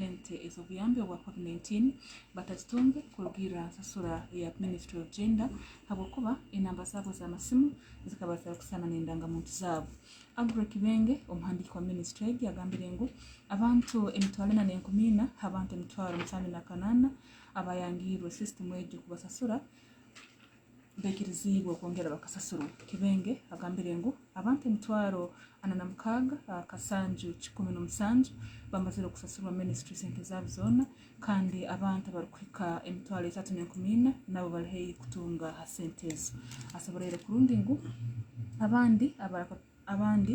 sente ez'obuyambi obwa covid 19 batazitungire kurugiirira aha nsasura eya ministry of gender ahabw'okuba enamba zaabo z'amasimu zikaba zitarikushushana n'endangamuntu zaabo. Aggrey Kibenge omuhandiiki wa ministry egi agambire ngu abantu emitwaro ena n'enkumi ina h'abantu emitwaro mushanju na kanaana abaayangirwe system egyo kubasasura. bekiriziibwe okwongyera bakasasirwe. Kibenge agambire ngu abantu emitwaro ana na mukaaga kasanju kikumi n'omusanju bamazire kusasirwa ministry sente zaabo zoona kandi abantu abarikuhika emitwaro etaatu n'enkumi ina nabo bari haihi kutunga ha sente ezo. Asoboreire kurundi ngu abandi abandi.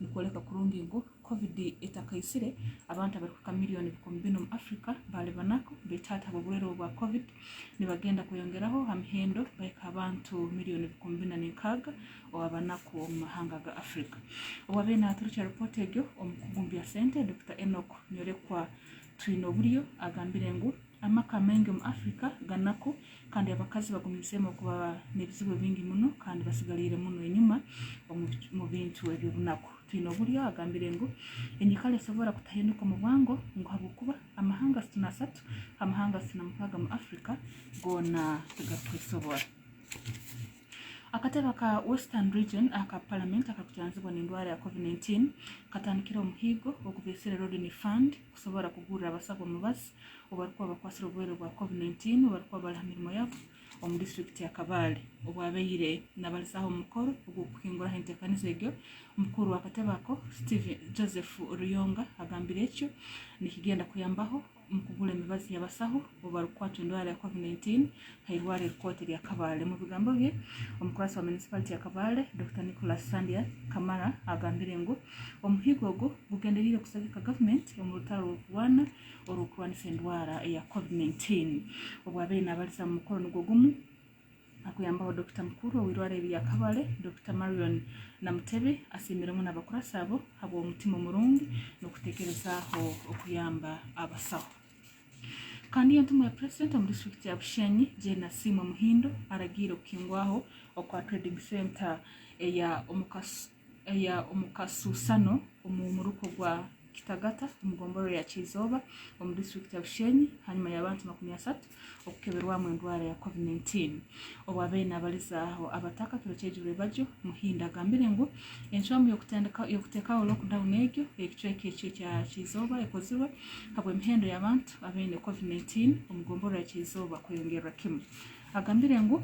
Nikworeka kurungi ngu Covid etakaitsire, abantu abarikuhika milioni bikumi bina omu Africa baali banaku betaato ahabw'oburwaire obu bwa Covid, nibagenda kweyongeraho aha mihendo bahika aha bantu milioni bikumi bina n'enkaaga owa banaku omu mahanga ga Africa. Owaabaire naaturukya ripooti egyo omu kugumbya sente, Dokita Enock Nyorekwa Twineoburyo agambire ngu, Amaka maingi omu Afrika ganaku kandi abakazi bagumiizemu okuba n'ebizibu bingi muno kandi batsigariire muno enyima omu bintu eby'obunaku. Twine Oburi oyagambire ngu, Enyikara esobora kutahinduka omu bwango ngu habwokuba amahanga asatu n'asatu ha mahanga asatu na mukaaga omu Afrika goona tigarukwesobora. Akatebe aka Western Region aka Palamenti akakujanjabwa n'endwara ya Covid-19 katandikire omuhiigo ogubeesire Rodney Fund, kusobora kugurira abasaho omubazi obarikuba bakwatsire oburwaire bwa covid 19 obarikuba bari ha mirimo yabo omu disiturikiti ya Kabale obwo abaire nabalizaho omu mukoro ogw'okuhinguraho entekaniza egyo omukuru w'akatebe ako Steven Joseph Ruyonga agambire ekyo nikigenda kuyambaho omu kugura emibazi y'abasaho obarikukwatwa endwara ya covid 19 Eirwaro eri kooti rya Kabale. Omu bigambo bye, omukuratsi wa municipality ya Kabale, Dokita Nicholas Sandia Kamara agambire ngu omuhigo ogu gugendereire kusagika government omu rutaro rw'okurwana orw'okurwanisa endwara eya covid 19. Obwabaire nabariza mu mukoro nigwo gumu akuyambaho Dokita mukuru ow'eirwaro eri rya Kabale, Dokita Marion Namutebi asiimire muno abakuratsi abo habw'omutima omurungi n'okutekerezaaho okuyamba abasaho. Kandi iyo ntumwa ya President omu district ya Bushenyi Jane Asiimwe Muhindo aragiire okuhingwaho okwa Trading Centre eya omukasu eya omukasuusano omu muruko gwa Kitagata omu gomborora ya Kyizooba omu district ya Bushenyi hanyuma y'abantu makumi asatu okukeberwamu endwara ya Covid 19. Obwa beene abalizaaho abatakatwire kyegirwe bagyo, Muhindo agambire ngu enshwamu y'okutekaho lockdown egyo ekicweka ekyo ekya Kyizooba ekozirwe habw'emihendo y'abantu abeine Covid 19 omu gomborora ya Kyizooba kweyongerra kimu. Agambire ngu.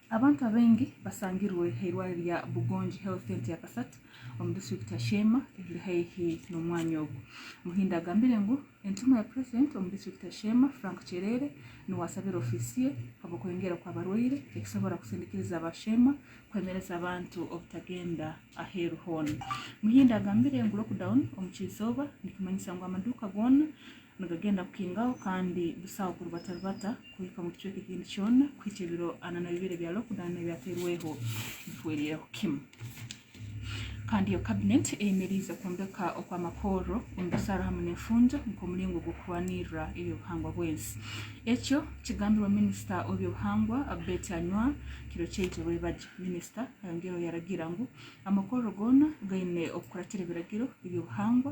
Abantu abaingi basangirwe eirwariro rya Bugongi Health Centre ya Kasat omu district ya Sheema eriri haihi n'omwanya ogu. Muhindo agambire ngu entumwa ya president omu district ya Sheema Frank Kyerere niwe asabire office ye habw'okweyongera kw'abarwaire ekisobora kusindikiriza aba Sheema kwemereza abantu obutagenda aheru hoona. Muhindo agambire ngu lockdown omu ky'eizooba nikimanyisa ngu amaduuka goona nigagenda kukingaho kandi busaho kuri batari bata kuhika omu kicweka ekindi kyona kuhikya ebiro ana n'ebibiri ebya lockdown ebyateirweho bihwereireho kimu kandi yo cabinet eyemereize kwombeka okw'amakoorro omu busaaro hamu n'enfuunjo nk'omuringo gw'okurwaniirira eby'obuhangwa bw'ensi ekyo kigambirwe minisita w'eby'obuhangwa Betty Anywar kiro ky'eigyo Rwebagyo minisita ayongyeireho yaragiira ngu amakoorro goona gaine okukuratira ebiragiro eby'obuhangwa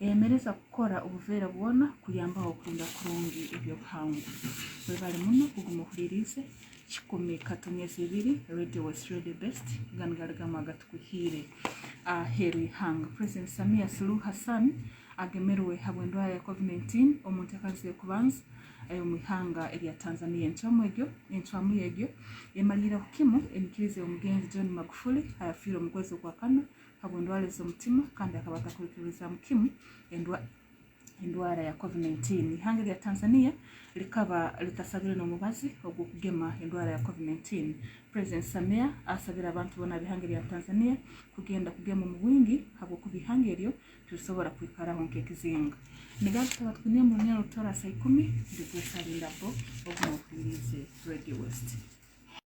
Eyemereza kukora obuveera bwona kuyambaho kurinda kurungi eby'obuhangwa. Webale muno kuguma ohuririize Kikumi Katuni Ezibiri Radio West Radio Best Ganigaligamu Agatukuhiire Aheeru Y'eihanga. President Samia Suluhu Hassan agemerwe habw'endwara ya Covid 19 omu nteekaaniza y'okubanza ey'omu ihanga erya Tanzania. Encwamu egyo encwamu y'egyo emariireho kimu enyikiriza y'omugenzi John Magufuli ayafiire omu kwezi okwa kana habw'endwara z'omutima kandi akaba atakwikiririzaamu kimu endwara ya Covid-19. Ihanga erya Tanzania rikaba ritasabire n'omubazi ogw'okugema endwara ya Covid-19. Purezidenti Samia asabire abantu boona ab'ihanga erya Tanzania kugenda kugema omu bwingi habw'okuba ihanga eryo tirisobora kwikaraho nk'ekizinga. Nigaruka Batwine Emmanuel Rutooro Asai Kumi, Rejoice Arinda Bo, ogu n'ohwiriize Radio West.